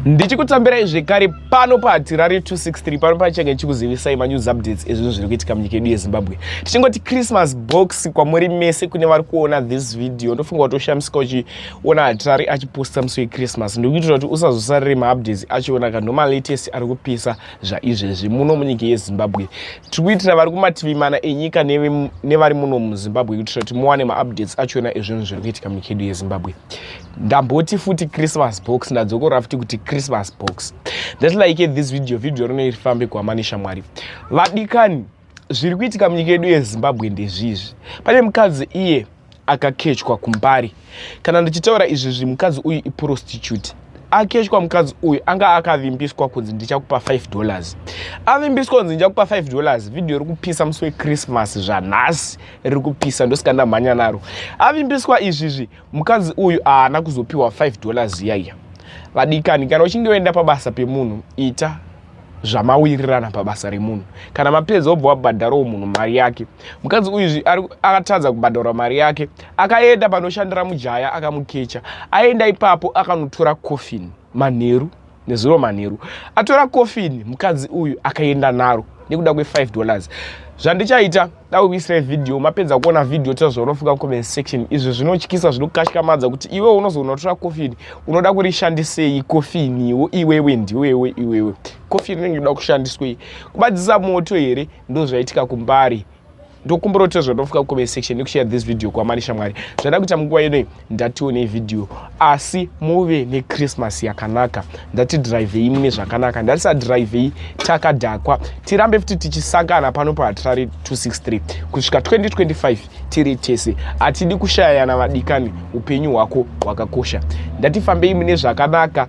ndichikutambirai zvekare pano pahatirari 263 pano pachenge chikuzivisai manews updates ezvinhu zviri kuitika munyika yedu yezimbabwe tichingoti christmas box kwamuri mese kune vari kuona this video ndofunga kuti ushamisika uchiona hatirari achiposta musi wechristmas ndikuitira kuti usazosarire maupdates achiona kanho malatest ari kupisa zvaizvezvi muno munyika yezimbabwe tiri kuitira vari kumativi mana enyika nevari muno muzimbabwe kuitira kuti muwane maupdates achiona ezvinhu zviri kuitika munyika yedu yezimbabwe ndamboti futi christmas box ndadzokora futi kuti christmas box thats like it this video video rino irifambe kuamani shamwari vadikani zviri kuitika munyika yedu yezimbabwe ndezvizvi pane mukadzi iye akakechwa kumbari kana ndichitaura izvi zvi mukadzi uyu iprostitute akechwa mukadzi uyu anga akavimbiswa kunzi ndichakupa 5 dollars avimbiswa kunzi ndichakupa 5 dollars vhidhiyo riri kupisa musi wechristmas zvanhasi riri kupisa ndosika ndamhanya naro avimbiswa izvizvi mukadzi uyu haana kuzopiwa 5 dollars yaiya vadikani kana uchinge waenda pabasa pemunhu ita zvamawirirana pabasa remunhu kana mapedza obva wabhadharawo munhu mari yake mukadzi uyu akatadza kubhadhara mari yake akaenda panoshandira mujaya akamukecha aenda ipapo akanotora coffin manheru nezuro manheru atora kofini mukadzi uyu akaenda naro nekuda kwe5 dollars zvandichaita dakuisira vhidhiyo mapedza kuona vhidhiyo tira zvaunofunga mucomment section izvi zvinotyisa zvinokashikamadza kuti iwe unozoona unotora kofini unoda kurishandisei kofiniwo iwewe ndiwewe iwewe kofini inenge inoda kushandiswei kubadzisa moto here ndozvaitika kumbari ndokumbira kuti tezvo ndofuka kucomment section nekushare this video kwamani shamwari zvada kuita munguva inoi ndatiwo nevideo asi muve nechristmas yakanaka ndatidrivei mune zvakanaka ndatisadrivei takadhakwa tirambe futi tichisangana pano pahatirari 263 kusvika 2025 tiri tese hatidi kushayana vadikani upenyu hwako hwakakosha ndatifambei mune zvakanaka